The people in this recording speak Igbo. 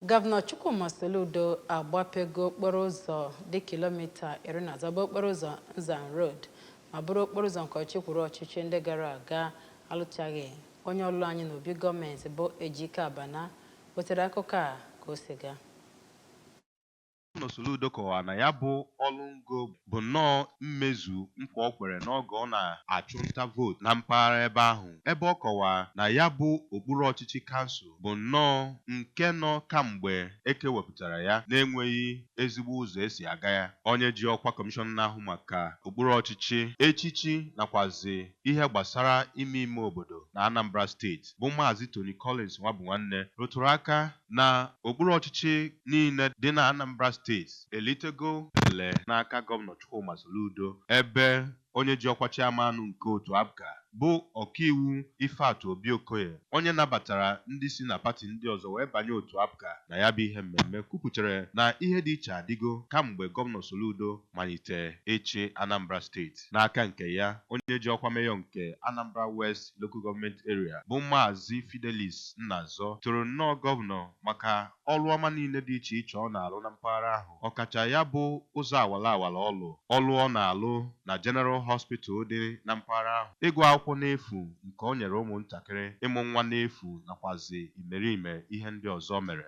Gọvanọ Chukwuma Soludo agbapego okporo ụzọ dị kilomita iri na atọ bụ okporo ụzọ Nzam Road ma bụrụ okporo ụzọ nke ọchịchị kwuru ọchịchị ndị gara aga alụchaghị. Onye ọlụ anyị n'obi gọọmenti bụ Ejike Abana wetere akụkọ a ka o si gaa. Gọvanọ Soludo kọwara na ya bụ ọlụ ngo bụ nnọọ mmezu nkwa o kwere n'oge ọ na-achụ nta vootu na mpaghara ebe ahụ, ebe ọ kọwara na ya bụ okpuru ọchịchị kansụl bụ nnọọ nke nọ kamgbe e kewepụtara ya na-enweghị ezigbo ụzọ e si aga ya. Onye ji ọkwa Kọmishọna na-ahụ maka okpuru ọchịchị, echichi nakwazị ihe gbasara ime ime obodo na Anambra steeti bụ Maazị Tony Collins Nwabunwanne rụtụrụ aka na okpuru ọchịchị niile dị na Anambra steeti elitego ele n'aka Gọvanọ Chukwuma Soludo ebe onye ji ọkwa Chairman nke otu APGA bụ ọkaiwu Ifeatụ Obi Okoye onye nabatara ndị si na pati ndị ọzọ wee banye otu APGA na ya bụ ihe mmemme kwupụtara na ihe dị iche adịgo kamgbe Gọvanọ Soludo malite ịchị Anambra steeti. N'aka nke ya, onye ji ọkwa Mayor nke Anambra West Local Government Area bụ Maazị Fidelis Nnazọ toro nnọọ Gọvanọ maka ọlụ ọma niile dị iche iche ọ na-alụ na mpaghara ahụ, ọkacha ya bụ ụzọ awala awala ọ lụrụ, ọlụ ọ na-alụ na General Hospital dị na mpaghara ahụ, ịgụ akwụkwọ n'efu nke o nyere ụmụ ntakịrị, ịmụ nwa n'efu nakwazị imerime ihe ndị ọzọ o mere.